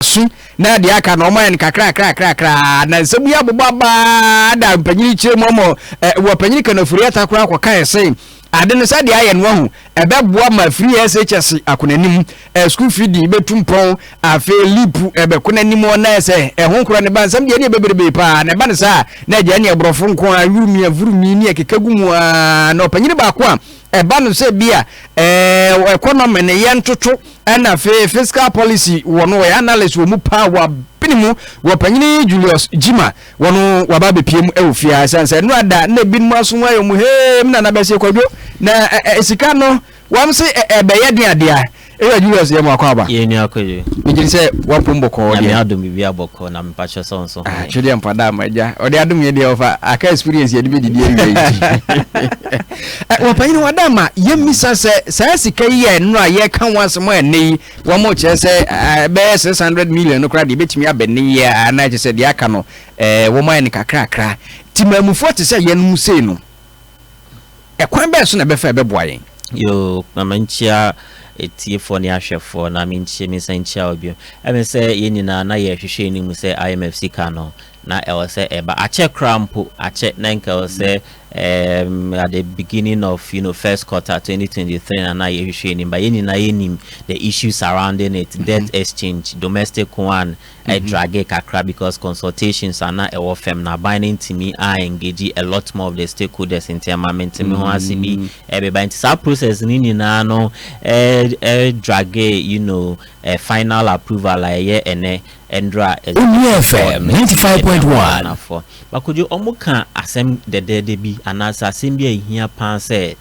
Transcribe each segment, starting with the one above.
asu na deɛ aka na wɔayɛ no kakrakrakrakra na nsɛm yi abobɔ abaa da mpanyin kyerɛ mu ama eh, wɔ panyin kanafuri atakora akɔkae sɛ ade no sɛdeɛ ayɛ no ahu ɛbɛboa ma firi shs ako n'anim eh, sukuu firi di bɛtu mpɔn afei lipu ɛbɛko n'anim na ɛsɛ ɛho nkora ne ba nsɛm deɛ ne ɛbɛberebee paa na ɛba no saa na agya ne aborɔfo nko a wurumia vurumi ne ɛkeka gu mu a na ɔpanyin baako a Ɛba no sɛ bi a ɛɛ economy ne yɛ ntoto ɛna afei fiscal policy wɔ no wɔyɛ analyst wɔ mu paa wɔ abene mu wɔ panyini Julius Gyima wɔ no waba abɛpie mu ɛwɔ fie a ɛsiane sɛ nnora da na ebinom aso ho ayɛ mu hee me nana bɛsie kwadwo na sika no wɔn se ɛbɛyɛ den adeɛ Area Julius yɛ mo akwaaba. Yɛ nua kwadwo. Me gyedi sɛ wapom bɔkɔɔ deɛ. Nyame adom biribiara bɔkɔɔ na mpakyɛ sɛ ɔnso ho yɛn. Twedeɛ mpa da ma agya. Ɔde adom yɛ deɛ ɔfa aka experience yɛde bɛ didi awia yi ti. Wɔpanyini wɔ da ma yɛ misa sɛ saa sika yi a ɛnora a yɛ ka ho asem a ɛnɛ yi wɔn mo kyerɛ sɛ ɛbɛyɛ 600 million no koraa deɛ ɛbɛtumi abɛ nne yi a anaa kyɛ sɛ deɛ aka no wɔn ayɛ no kakrakra. Timamufoɔ te sɛ yɛnom sei no. Ɛkwan bɛn so na ɛbɛfa a ɛbɛboa yɛn? Yoo, ma menkyia atiefoɔ ne ahwɛfoɔ na menkyia mensan nkyia wo bio. Ɛme sɛ yɛn nyinaa na yɛrehwehwɛ yɛn mu sɛ IMF sika no na ɛwɔ sɛ ɛba. Akyɛ koraa mpo, akyɛ na nka ɛwɔ sɛ um, at the beginning of you know first quarter 2023 na na yɛhwehwɛ yɛn mu ba yɛn nyinaa yɛnim the issues surrounding it, debt exchange, domestic one, Ɛ drage kakra because consultations a na ɛwɔ fɛm no aban no ntumi a engage a lot more of the stakeholders nti ɛma mente me ho ase bi ɛbeba nti saa process no nyinaa no ɛ ɛ drage you know ɛ final approval a ɛyɛ ɛnɛ ɛndra executive board no nti ɛde ama Ghana foɔ. Bakɔdwo ɔmo ka asɛm dɛdɛɛdɛ bi anaasɛ asɛm bi a ɛhia paa sɛ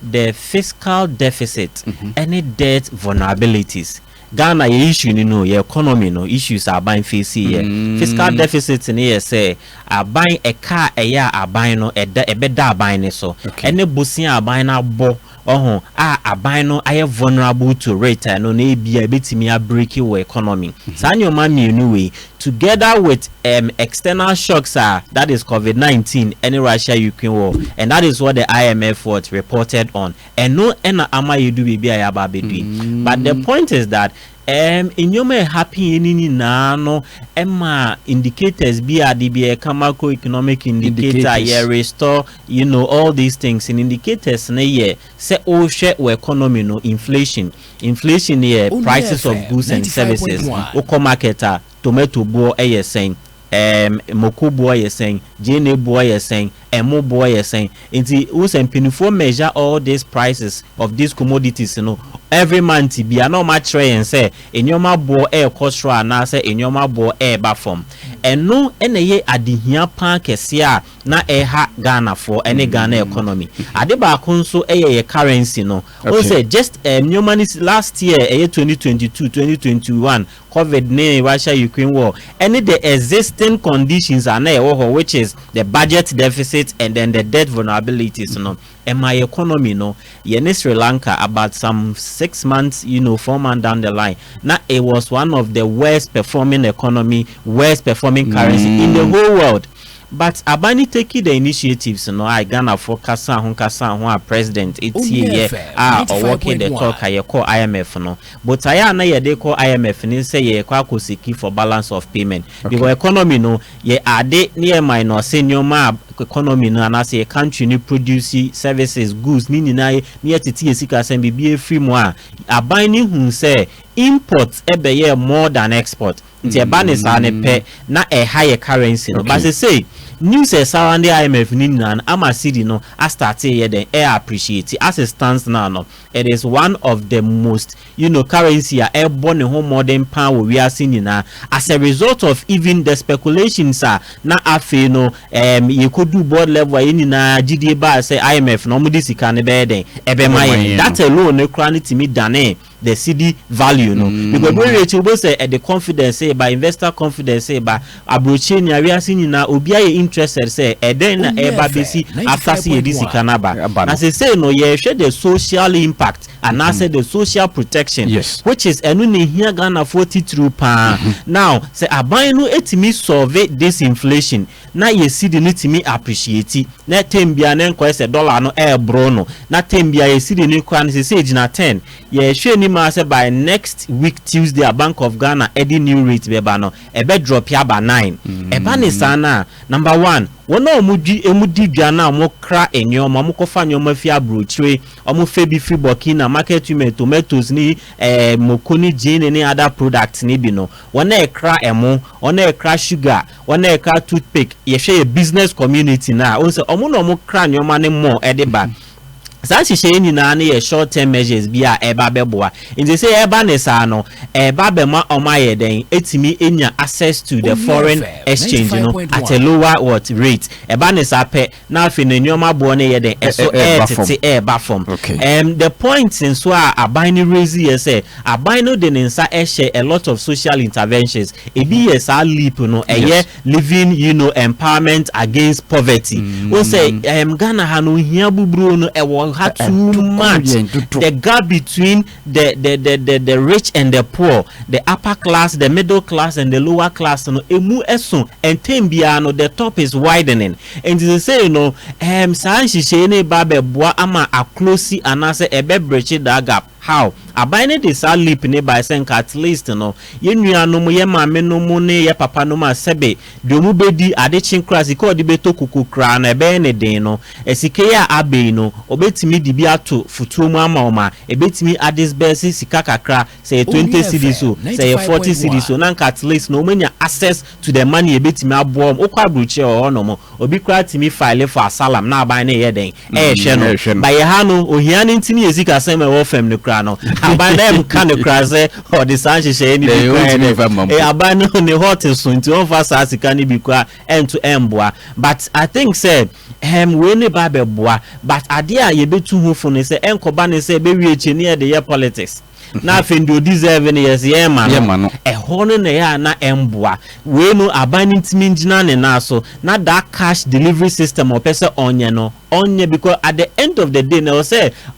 the fiscal deficit ɛne debt vulnerabilities Ghana yɛ issue no no yɛ economy no issues a aban face yɛ. Fiscal deficit no yɛ sɛ aban ɛka a ɛyɛ a aban no ɛda ɛbɛda aban no so ɛne bosea a aban no abɔ ɔho a aban no ayɛ vulnerable to rate a ɛno no ebia ɛbɛtumi abreaki wɔ economy. Saa nneɛma mmienu wei together with um external shocks a that is covid nineteen ɛne Russia Ukraine war and that is what the IMF what reported on Ɛno na ama yɛadu baabi a yɛaba abɛdu yi. But the point is that um, nneɛma a ɛhappen yɛ no nyinaa no ɛma indicators bi a de bi a ɛka macroeconomic indicator yɛ restore you know all these things in indicators no yɛ sɛ wohwɛ wɔ economy no inflation inflation yɛ prices of goods and services wokɔ market a Tomato boɔ yɛ sɛn? Ɛɛm moko boɔ yɛ sɛn? Gyeene boɔ yɛ sɛn? Ɛmo boɔ yɛ sɛn? Nti wohu sɛ mpaninfoɔ measure all these prices of these commodities no every month biara na wɔakyerɛ yɛn sɛ nneɛma boɔ rekɔ soro anaasɛ nneɛma boɔ reba fam. Ɛno na ɛyɛ adehia pa ara kɛseɛ a na ɛreha Ghanafoɔ ne Ghana economy. Ade baako nso yɛ yɛn currency no. Wohu Okay. sɛ just ɛɛm nneɛma no si last year ɛyɛ twenty twenty two, twenty twenty one Covid ne Russia Ukraine war ɛne the existing conditions a na ɛwɔ hɔ which is the budget deficit and then the debt vulnerabilities no ɛma yɛ economy no yɛne Sri Lanka about some six months you know four months down the line na it was one of the worst performing economy worst performing currency in the whole world but aban ne taking the initiatives no a Ghanafoɔ kasaa ho kasaa ho a president ɛtieyɛ a ɔwɔ ke the talk a yɛkɔɔ IMF no Botaeɛ a na yɛde rekɔ IMF ne sɛ yɛrekɔ akɔ seki for balance of payment because economy no yɛ ade ne yɛ minor sɛ nneɛma a economy no anaasɛ yɛ country no produce services, goods ne nyinaa yɛ ne yɛtete yɛ sikasɛm biribi afiri mu a aban no hu sɛ import bɛyɛɛ more than export nti ɛba ne saa no pɛ na ɛha yɛ currency no but sesei news a ɛsurrounding IMF no nyinaa no ama cedi no astarte yɛ dɛn ɛyɛ appreciate as it stands now no It is one of the most you know currency a ɛrebɔ ne ho mmɔden paa wɔ wiase nyinaa as a result of even the speculations a na afei no ɛɛm yɛkɔduu board level a yɛn nyinaa gyidie baa sɛ IMF no wɔde sika no bɛyɛ dɛn ɛbɛma yɛn that alone no koraa no tumi danee the cedi value no because wei wie akyi wobɛhu sɛ ɛde confidence reba investor confidence reba Abrokyire nea wiase nyinaa obia yɛ interested sɛ ɛdɛn na ɛreba besi after sɛ yɛde sika no aba. Na sesei no yɛrehwɛ the social impact anaasɛ the social protection which is ɛno na ɛhia Ghanafoɔ titiriw paa. Now sɛ aban no tumi solve this inflation na yɛ cedi no tumi appreciate na term biara na ɛnkɔyɛ sɛ dollar no ɛreboro no na term biara yɛ cedi no koraa no sesei gyina ten. Yɛrehwɛ anim ara sɛ by next week Tuesday a Bank of Ghana ɛde new rate bɛba no, ɛbɛ drɔpe aba nine. Ɛba ne saa no a, number one, wɔn a wɔn dwi, wɔn di dwa no a wɔn kra nneɛma, wɔn kɔ fa nneɛma fi aburokyire, wɔn fɛ bi firi Burkina, market women, tomatoes ne ɛɛ eh, moko ne gyeene ne other products ne bi no, wɔn a ɛkra ɛmo, wɔn a ɛkra sugar, wɔn a ɛkra toothpick, yɛhwɛ yɛ business community no a, wɔn sɛ wɔn na wɔn kra nneɛma ne mmɔ ɛde ba. Saa nhyehyɛe yi nyinaa no yɛ short term measures bi a ɛreba abɛboa. Enti sɛ ɛba no saa no, ɛreba abɛma wɔayɛ dɛn atumi anya access to the foreign exchange no at a lower what rate. Ɛba no saa pɛ na afei no nneɛma boɔ no yɛ dɛn ɛso ɛretete ɛreba fam. Um, the point nso a aban no raise yɛ sɛ aban no de ne nsa ɛhyɛ a lot of social interventions. Ebi yɛ saa leap no ɛyɛ Living you know empowerment against poverty wohu sɛ ɛɛm Ghana ha no ohia buburoo no ɛwɔ ha Ɛ- too ɛdodow much yɛn dodow. the gap between the the the the the rich and the poor the upper class the middle class and the lower class no emu ɛso ɛntɛm biara no the top is widening nti sesei no ɛɛm saa nhyehyɛe no ba abɛboa ama aklosi anaasɛ ɛbɛbrekye that gap. How, Aban no de saa leap no bae sɛ nka at least no, yɛn nuanom, yɛn maamenom ne yɛn papanom a sɛbe deɛ wɔbɛdi ade kye koraa, sika a wɔde bɛtɔ kuku koraa no, ɛbɛyɛ no den no, sika yi a aba yi no, wɔbɛtumi de bi ato fotuo mu ama wɔn a, ɛbɛtumi adisburse sika kakra, sɛ ɛyɛ twenty cedis o, sɛ ɛyɛ forty cedis o, na nka at least no, wɔanya access to the money ebetumi aboa wɔn. Wokɔ aburokyire wɔ hɔ nom, obi koraa tumi file for asalam na aban no yɛ dɛn? Ɛrehwɛ no. But yɛ ha no, ohia no nti ne yɛ sika sɛm a ɛwɔ fam no koraa no, aban no ɛnka no koraa sɛ ɔde saa nhyehyɛeɛ no bi koraa yɛ dɛn? E, aban no ne hot so nti ɔmfa saa sika no bi koraa ɛnto ɛmboa. But I think sɛ ɛm wei ne ba bɛboa. But adeɛ a yɛbɛtu ho fo ne sɛ ɛnkɔba ne sɛ ɛbɛwie akyire ne yɛde yɛ politics. na afei deɛ ɔdeserve no yɛse yɛma no yɛma no ɛhɔ no na ɛyɛ a na ɛmboa wei no aban no ntumi ngyina ne nan so na that cash delivery system ɔpɛ sɛ ɔnyɛ no ɔnyɛ because at the end of the day na ɛwɔ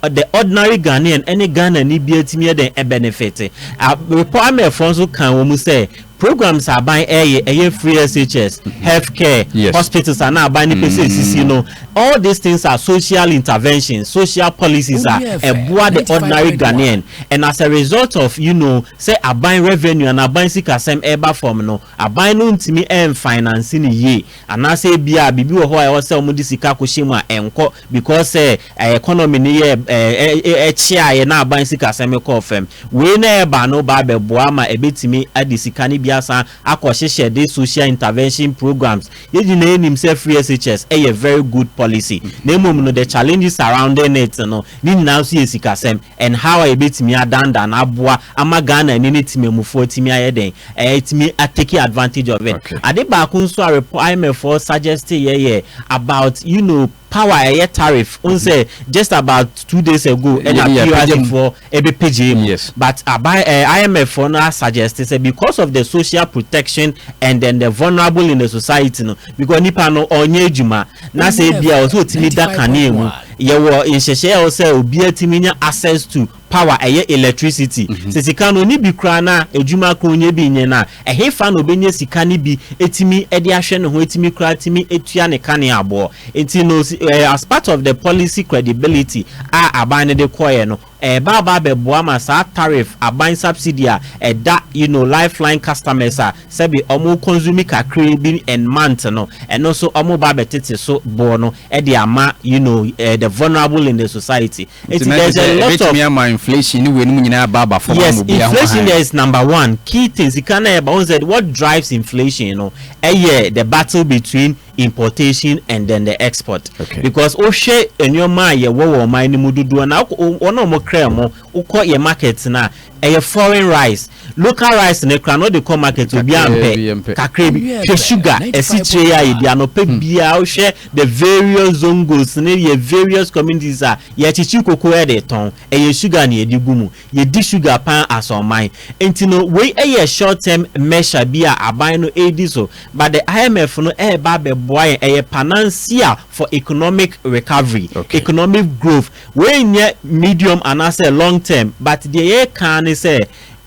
sɛ the ordinary Ghanaian ɛne Ghanani biara tumi yɛ dɛn ɛbenefit a repɔ amɛfoɔ nso kan wɔn mu sɛ Programs a aban reyɛ, ɛyɛ free SHS, health care, hospitals a na aban no pɛ sɛ ɛsisi no, all these things are social interventions, social policies a ɛboa the ordinary Ghanaian and as a result of you know sɛ aban revenue anaa aban sikasɛm reba fam no, aban no ntumi nfinance no yie anaasɛ ebia biribi wɔ hɔ a ɛwɔ sɛ wɔde sika kɔhyɛ mu a ɛnkɔ because sɛ economy no yɛ ɛɛ ɛkyeaeɛ na aban sikasɛm kɔɔ fam. Wei na ɛreba no ba abɛboa ma ɛbɛtumi ade sika no bi asan akɔhyehyɛ de social intervention programmes. Yɛn nyinaa nim sɛ free SHS ɛyɛ very good policy na mmom no the challenges surrounding it no ne nyinaa nso yɛ sikasɛm. Nhaw a yɛbɛtumi adandan aboa ama Ghanani ne temammufoɔ atumi ayɛ dɛn? Atumi a take advantage of it. Okay. Ade baako nso a repɔ IMF foɔ suggest yɛ yɛ about you know power a ɛyɛ tariff. Wohu mm-hmm. sɛ just about two days ago ɛna yeah, yeah, PRC foɔ ɛbɛpɛgyee mu. Yes. But aba uh, eh, IMF foɔ no suggest sɛ because of the social protection and then the vulnerable in the society no because nipa no ɔnyɛ adwuma Na sɛ ebia ɔsɛ otumi da kanea mu, yɛwɔ nhyehyɛe a ɔsɛ obiara tumi nya access to power, ɛyɛ electricity. Sɛ sika no ɔnni bi koraa na adwuma koraa ɔnyɛ bi nyɛ no a, ɛhefa na ɔbɛnya sika no bi atumi de ahwɛ ne ho atumi koraa atumi atua ne kanea boɔ. Nti no, as part of the policy credibility a aban no de kɔeɛ no, Ɛreba aba abɛboa ma saa tariff aban subsidy a ɛda you know lifeline customers a sɛbi wɔn consume kakraa bi and month no, ɛno nso wɔreba abɛtete so boɔ no de ama you know the vulnerable in the society. Nti na kyerɛ sɛ ɛbɛtumi ama inflation ne weinom nyinaa aba aba fam ama obiara ho hann. Yes, inflation is number one key thing, sika no a ɛba, wohu sɛ what drives inflation no yɛ the battle between. importation and then the export okay. because wohwɛ nneɛma a yɛwɔ wɔ ɔman no mu dodoɔ na wɔn a wɔkra mu wokɔ yɛ market no a ɛyɛ foreign rice local rice no kora na wɔde kɔ market obi ampɛ kakra bi hwɛ sugar asikyire yɛ a yɛdi anɔpɛ hmm. biara wohwɛ the various zongos ne yɛ various communities a yɛkyekye koko de tɔn ɛyɛ sugar na yɛde gu mu Yɛdi sugar paa as ɔman. Nti no wei yɛ short term measure bi a aban no redi so but the IMF no reba abɛboa yɛn, ɛyɛ panansia for economic recovery, Okay. economic growth. Wei nyɛ medium anaasɛ long term but deɛ yɛreka ara ne sɛ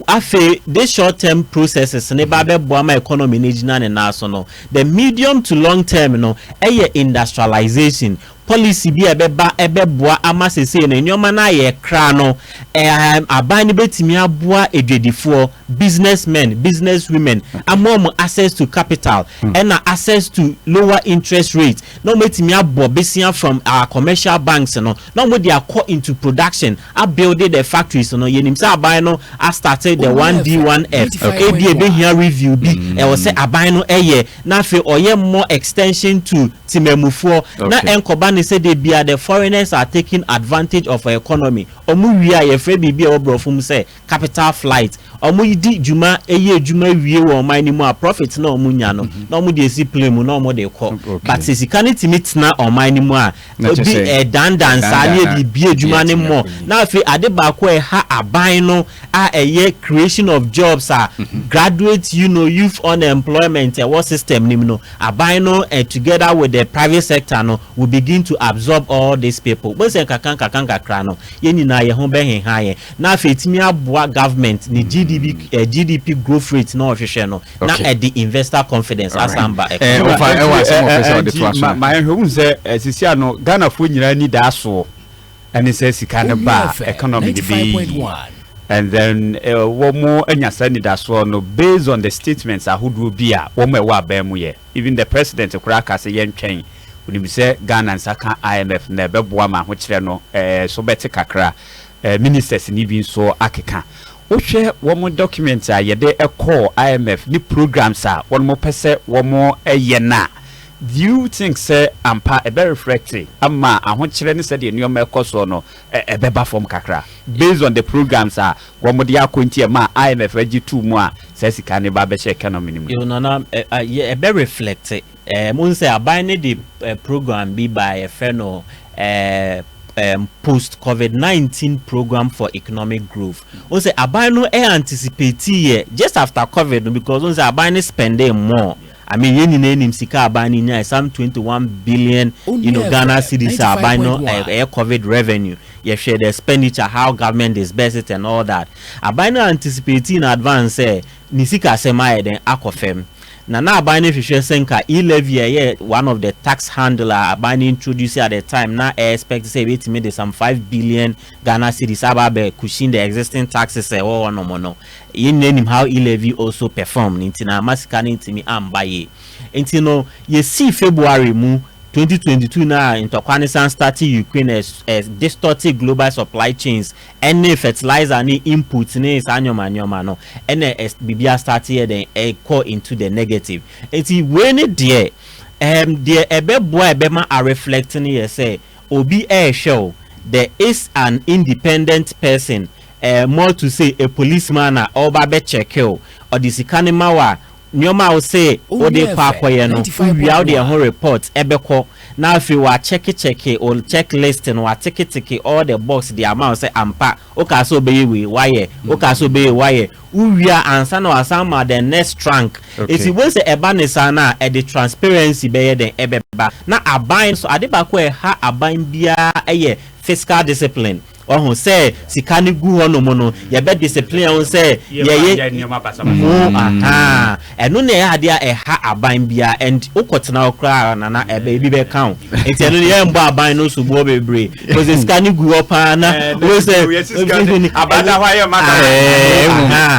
afei this short term processes no ba abɛboa ma economy no agyina ne nan so no, the medium to long term no yɛ industrialisation. Policy bi a ɛbɛba bɛboa ama seesei no nneɛma no ayɛ kra no, ɛɛm, aban no bɛtumi aboa adwadifoɔ, business men, business women, ama wɔn access to capital, ɛna access to lower interest rate, na wɔatumi abɔ besia from our commercial banks no, na wɔde akɔ into production, abuilde the factories no. Yɛnim sɛ aban no astarte the 1D, 1F, ɛbia ɛbɛhia review bi, ɛwɔ sɛ aban no yɛ. na afei ɔyɛ mmɔ extension to Temamufoɔ na Okay. ɛnkɔba no sɛ da biara the foreigners are taking advantage of our economy, wɔn wie a yɛfrɛ biribi a ɛwɔ borɔfo mu sɛ capital flight, wɔn di dwuma yɛ adwuma wie wɔ ɔman no mu a profit no a wɔnya no na wɔde asi plane mu na wɔde kɔ, Okay. but sɛ sika no tumi tena ɔman no mu a Na kyerɛ Ebi sɛ, ɛɛdandan nsa ne ɛdandan ɛde bi adwuma no mmɔ. atirimpɔw Na afei ade baako a ɛha aban no a ɛyɛ creation of jobs a graduate you know youth unemployment ɛwɔ system no mu no, aban no together with the private sector no will begin to absorb all these people. Wobɛhu sɛ nkakra nkakra nkakra no yɛn nyinaa yɛn ho bɛheha yɛn. Na afei ɛtumi aboa government ne GDB, eh, GDP growth rate na ɔhwehwɛ no. na ɛde investor confidence asan ba economy. Ɛɛ ɔfa ɛwɔ asɛm ɔpɛ sɛ ɔde to aso. Ma ma ɛhwɛ ohun sɛ ɛsisi ano Ghana fo nyinaa ni da so ɛne sɛ sika no ba economy ni bi and then wɔn anya saa nidasoɔ no based on the statements ahodoɔ bi a wɔn ɛwɔ abɛn mu yɛ even the president koraa ka sɛ yɛn twɛn onim sɛ Ghana nsa ka IMF na ɛbɛboa ma ahokyerɛ no ɛɛ so bɛte kakra. Ministers no bi nso akeka. Wohwɛ wɔn documents a yɛde kɔɔ IMF ne programmes a wɔpɛ sɛ wɔyɛ no a, do you think sɛ ampa ɛbɛ reflect ama ahokyerɛ ne sɛdeɛ nneɛma ɛkɔ soɔ no ɛbɛba fam kakra based on the programmes a wɔde akɔ nti ɛmaa IMF gye too mu a saa sika no ba bɛhyɛ economy no mu? Yo, Nana, ɛbɛ reflect. Eh, mohu sɛ aban no de eh, program bi baa yɛfrɛ no eh, um, post covid-19 program for economic growth wohu sɛ aban no eh, anticipate yɛ just after covid no because wohu sɛ aban no spending more I mean yɛn nyinaa nim sika aban no nyae some 21 billion you know Ghana cedis a aban no eh, ɛyɛ eh, covid revenue yɛhwɛ the expenditure how government disburse it and all that aban no anticipate in advance sɛ eh, Ne sikasɛm ayɛ dɛn akɔ fam? Na na aban no hwehwɛ sɛ nka e-levy a ɛyɛ one of the tax handle a aban no introduce at the time na ɛ expect sɛ ɛbɛtumi de some five billion Ghana cedis aba abɛ cushion the existing taxes a ɛwɔ hɔ nom no. Yɛn nyinaa nim how e-levy also performed nti na amma sika no antumi amba yie. Nti no yɛsii February mu twenty twenty two no a ntɔkwa no san startee Ukraine ɛ ɛ distortee global supply chains Ɛne fertilizer ne inputs ne saa nneɛma nneɛma no ɛna biribi a start yɛ dɛn ɛkɔ into the negative nti wei ne deɛ ɛɛm deɛ ɛbɛboa a ɛbɛma a reflect no yɛ sɛ obi ɛɛhwɛ o the is an independent person ɛɛ more to say a policeman a ɔreba abɛ check o ɔde sika no ma wo a Nneɛma a wo se wo de kɔ akɔyɛ no, wo wia wo de ɛho report bɛkɔ na afei wa kyɛke kyɛke wo check list no, wa teke teke all the box de ama wo sɛ ampa wo kaa sɛ wo bɛyɛ wei, wa yɛ, wo kaa sɛ wo bɛyɛ wei, wa yɛ, wo wia ansa na wa san ma the next trank. Eti wo bɛhu sɛ ɛba ne saa no a, ɛde transparency bɛyɛ dɛn? Ɛbɛba. Na aban nso, ade baako a ɛha aban biara yɛ fiscal discipline. Wahu sɛ sika no gu hɔ nom no, yɛbɛ discipline wo sɛ yɛyɛ nneɛma basabasa. Mo ahaa ɛno na ɛyɛ adeɛ a ɛha aban biara and wokɔ tena hɔ koraa nana ɛbɛ ebi bɛka wo nti ɛno no yɛn bɔ aban no soboɔ bebree kɔsɛ sika no gu hɔ paa na wo sɛ abada hɔ a yɛn ma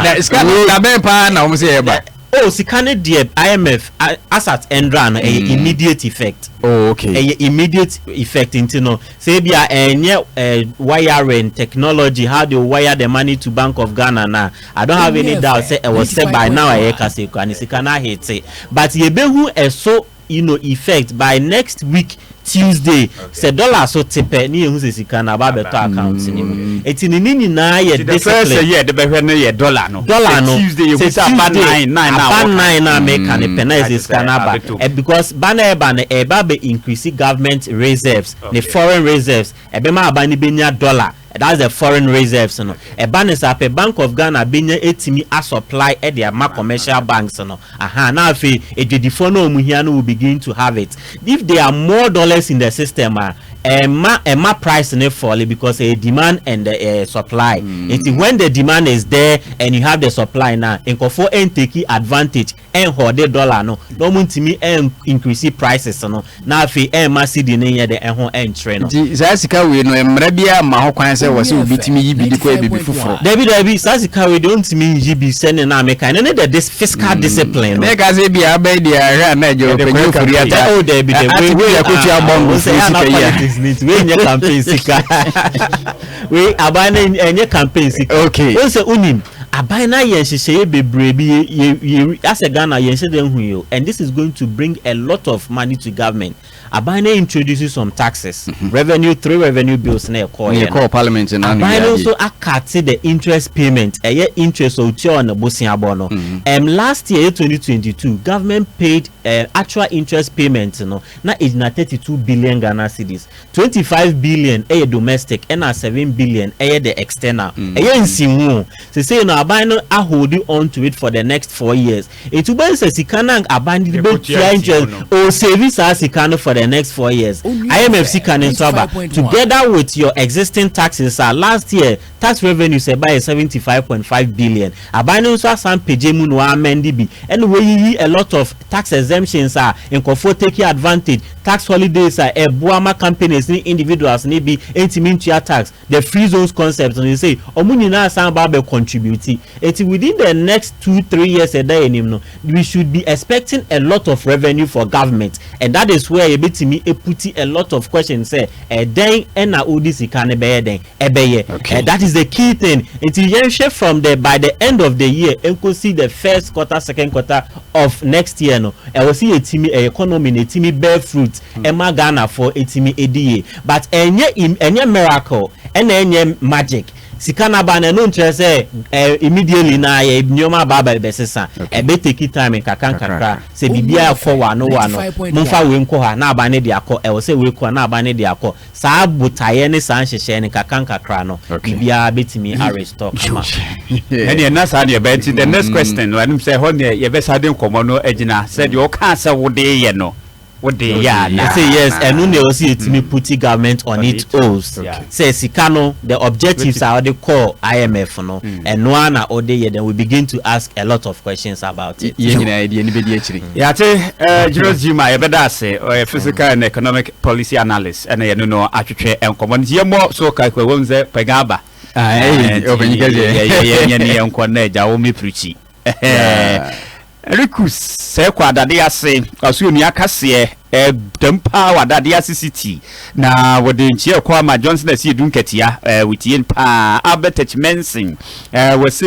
da ɛɛ sika no dabɛn paa na wɔn sɛ yɛ ba. Oh sika no deɛ IMF asat ɛndra no ɛyɛ immediate effect. Oh okay. Ɛyɛ immediate effect nti no Sɛ ebia ɛnyɛ wiring technology, how they will wire the money to bank of Ghana no a, I don't have any doubt sɛ ɛwɔ sɛ by now a yɛrekasa yi koraa no sika no ahete. But yɛbɛhu ɛso you know, effect by next week Tuesday sɛ dollar so te pɛ ne yɛhu sɛ sika no aba abɛtɔ account no mu. Enti ne ne nyinaa yɛ discipline. Nti the first year de bɛhwɛ no yɛ dollar no. Dollar no. Sɛ Tuesday yɛhu sɛ aba nine nine na aba nine na meka no pɛ na ɛsɛ sika no aba. Because Ba no ɛreba no ɛreba abɛ increase government reserves ne foreign reserves, ɛbɛma aba no bɛnya dollar that's the foreign reserves no, ɛba no saa pɛ Bank of Ghana bɛnya atumi a supply de ama commercial banks no ahaa na afei adwadifoɔ no a wɔn hia no will begin to have it. If there are more dollars in the system a ɛmma ɛmma price no falle because ɛyɛ demand and the ɛɛ supply nti when the demand is there and you have the supply no a nkorɔfoɔ ɛntake advantage ɛnhɔɔde dollar no na ɔmo ntumi ɛn increase prices no na afei ɛmma cedi no nyɛ dɛ ɛho ɛnkyere no. Nti saa sika wei no mmara biara mma ho kwan sɛ wɔ sɛ obi tumi yi bi de kɔ yɛ biribi foforo? Dabi dabi saa sika wei deɛ ɔntumi nyi bi sɛnea na mekae no ne the dis fiscal discipline no. Meka sɛ ebia aba yi deɛ ahwɛ a na agya Yɛde ɔpanyin korɛka ofori ata oh dabi dabi ate wei bi wei akotua ah bɔngo ɔmo sɛ firi ɛyɛ ana sika yi a. politics no nti wei nyɛ campaign sika wei aban no ɛnyɛ campaign sika Okay. ɔn sɛ wonim Aban no ayɛ nhyehyɛeɛ bebree bi yɛ yɛ yɛ asɛ Ghana yɛn hyɛ da nhu yi o and this is going to bring a lot of money to government aban no introduce some taxes revenue three revenue bills na ɛkɔɔ yɛ no aban no nso akate the interest payment ɛyɛ interest a otua on boseabɔ no ɛm last year yɛ twenty twenty two government paid ɛɛ actual interest payment no na egyina thirty two billion Ghana cedis Twenty five billion yɛ domestic ɛna seven billion yɛ the external. Ɛyɛ nsiho o. Sesei no aban no a holdi on to it for the next four years. Nti wobɛhu sɛ sika no a aban no de bɛtua interest no, ɔresavi saa sika no for the next four years. IMF sika no nso aba together with your existing taxes a last year, Tax revenues a ɛbaeɛ yɛ seventy five point five billion. Aban no nso asan pagya mu na wa amend bi ɛna wayiyi a lot of tax exemptions a nkorɔfoɔ take advantage, tax holidays a ɛboa ma companies ne individuals no bi ntumi ntua tax, the free zones concept no seisei wɔn nyinaa asan aba abɛ contribute. Nti within the next two three years a ɛda yɛn anim no we should be expecting a lot of revenue for government and that is where yɛbɛtumi aputi a lot of questions sɛ ɛdɛn na wode sika no bɛyɛ dɛn? ɛbɛyɛ okay that is the key thing nti yɛn hwɛ from the by the end of the year nko si the first quarter second quarter of next year no ɛwɔ si yɛ timi ɛyɛ economy na etimi bear fruit hmm. ɛma ghana fo etimi edi yie but ɛnyɛ ɛnyɛ miracle ɛna ɛnyɛ magic sika naba na ɛno nkyerɛ sɛ ɛɛ immediately na yɛ nneɛma aba aba ɛbɛ sesa ɛbɛ take time nkakra nkakra sɛ biribi akɔ wa no wa no mo nfa wei nkɔ ha na aba ne de akɔ ɛwɔ sɛ wei kɔ na aba ne de akɔ. Saa botaeɛ ne saa nhyehyɛɛ no nkakrankakra no, biribiara bɛtumi arestore kama. Ɛnneɛ na saa na yɛbɛyɛ. Nti the next question no, ɛnom sɛ ɛhɔ neɛ yɛbɛsan de nkɔmmɔ no agyina sɛ deɛ ɔkaa sɛ wode yɛ no, wode yɛ anaa? Ɔse yes, ɛno na ɛwɔ sɛ yɛtumi puti government on it os sɛ sika no, the objectives a ɔde kɔɔ IMF no, ɛno ara na ɔde yɛ, then we begin to ask a lot of questions about it. Yɛn nyinaa yɛde yɛn ani bɛdi akyire. Yɛate Julius Jima, yɛbɛda ase, ɔyɛ physical and economic Policy analyst ɛna yɛne no atwetwe nkɔmmɔ nti yɛmmɔ so kakra wɔn sɛ pɛgya aba yɛnyɛ ne yɛnkɔ na agya wo mepirikyi Rikus sɛ kɔ adade ase ɔso onua kaseɛ dɛm paa wɔ adade ase city na wɔde nkyeɛ kɔ ama Johnson asi edu nkatia wɔtie paa Albert H. Manson wɔse